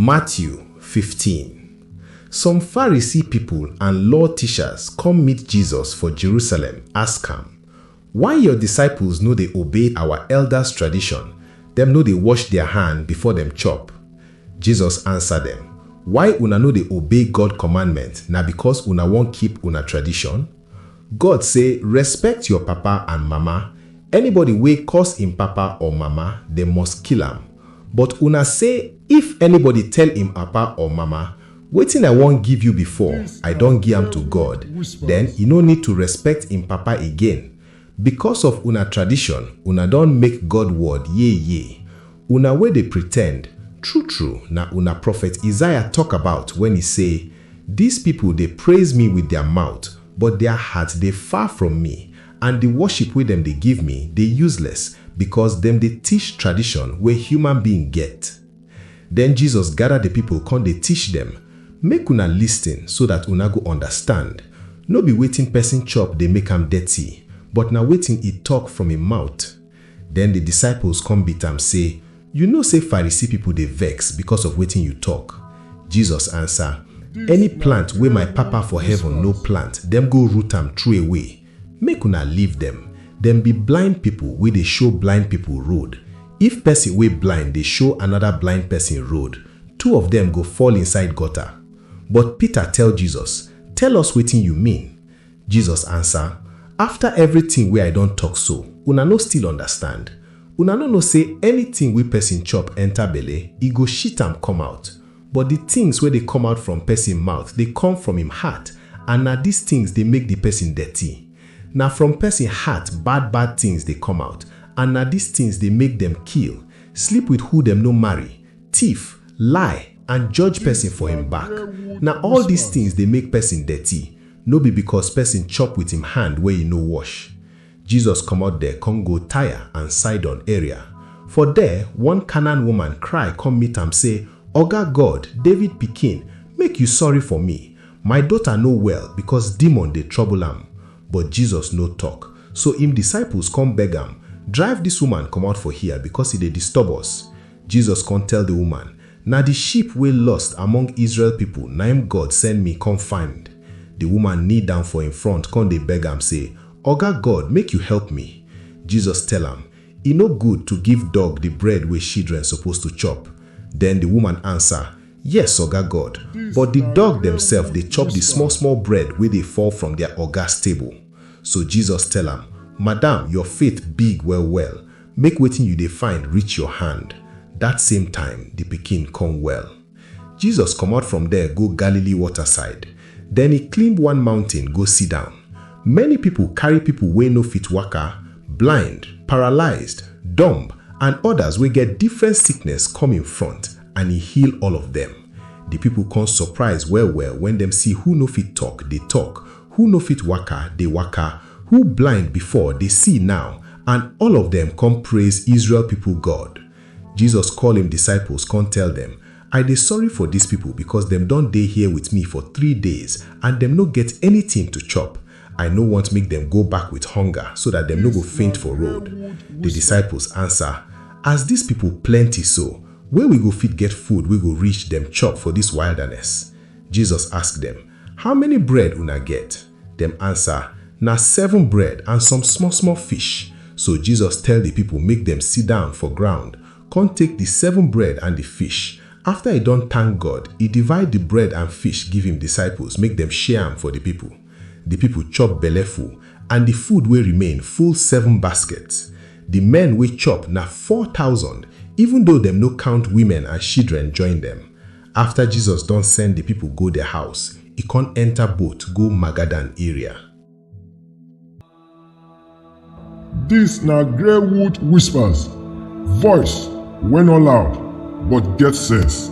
Matthew fifteen, Some Pharisee pipol and law tishas kom meet Jesus for Jerusalem, ask am, Why yor disciples no dey obey awa eldas tradishon, dem no dey wosh dia hand before dem chop? Jesus ansa dem, Why una no dey obey God kommandment, na bikos una won keep una tradishon? God say respect your papa and mama, anybody wey curse him papa or mama dem must kill am, but una say if anybody tell him papa or mama wetin I wan give you before I don gi am to God then e no need to respect him papa again because of una tradition una don make God word yeye Una wey dey pretend, true-true na una Prophet Isaiah tok about wen e sey, Dis pipol dey praiz mi with dia mout, but dia heart dey far from mi, and di woship wey dem dey give mi dey useless, bikos dem dey tish tradishon wey human being get. Den Jesus gada di pipol kon dey tish dem, Make una listin so dat una go undastand, No bi wetin pesin chop dey make am dirty, but na wetin e tok from e mout. Den di disciples kon beat am sey, Yu know sey Pharisee pipol dey vex bikos of wetin yu tok. Jesus ansa, Any plant wey my Papa for heaven no plant, dem go root am troway. Make una leave dem, dem bi blind pipol wey dey show blind pipol road. If pesin wey blind dey show anoda blind pesin road, two of dem go fall inside gota. But Peter tell Jesus, Tell us wetin yu mean. Jesus ansa, Afta evritin wey I don tok so, una no still undastand? Una no know sey anytin wey pesin chop enta belle, e go shit am come out? But di tins wey dey come out from pesin mouth dey come from im heart, and na dis tins dey make di pesin dirty. Na from pesin heart bad bad tins dey come out, and na dis tins dey make dem kill, sleep wit who dem no marry, tiff, lie, and judge pesin for im back. Na all dis tins dey make pesin dirty. no be bikos pesin chop wit im hand wey e no wosh. Jesus komot der kon go Tyre and Sidon area. For der, one Canaan woman kry kom meet am sey, Oga God, David Pikin, make yu sorry for mi. My dota no well bikos demon dey trobol am. But Jesus no tok. So im disciples kon beg am, Drive dis woman komot for hia, bikos e dey disturb us. Jesus kon tell di woman, Na di sheep wey lost among Israel pipol naim God send mi kon find. Di woman knee down for en front kon dey beg am sey, Oga God, make yu help mi. Jesus tell am, E no good to give dog di bread wey shidren suppose to chop. Den di woman ansa, Yes, Oga God, but di dog demsef dey chop di small-small bread wey dey fall from dia ogas table. So Jesus tell am, Madam, yor faith big well-well, Make wetin yu dey find reach yor hand. Dat same time, di pikin kon well. Jesus komot from der go Galili wota-side. Den e klimb one mountin go sidown. Many pipol karry pipol wey no fit waka, blind, paralyzed, dumb, and odas wey get difren sickness kom en front, and e heal all of dem. Di pipol kon sopraiz well-well wen dem si who no fit tok, dey tok, who no fit waka, dey waka, Who blind before dey see now, and all of dem kon praise Israel pipol God. Jesus koll im disciples kon tell dem, I dey sorry for dis pipol bikos dem don dey here with mi for three days and dem no get anytin to chop. I no want make dem go back with honga so dat dem no go faint for road. Di disciples ansa, As dis pipol plenty so, where we go fit get food wey go reach dem chop for dis wildaness? Jesus ask dem, How many bread una get? Dem ansa, Na seven bread and some small-small fish. So Jesus tell di pipol make dem sidan for ground, kon take di seven bread and di fish. Afta e don tank God, e divide di bread and fish give im disciples make dem share am for di pipol. Di pipol chop belleful, and di food wey remain full seven baskets. Di men wey chop na four thousand, even doh dem no kount wimen and shidren join dem. Afta Jesus don send di pipo go dia house, e kon enta boat go Magadan area. Dis na Greywood Whispers, voice wey no loud but get sense.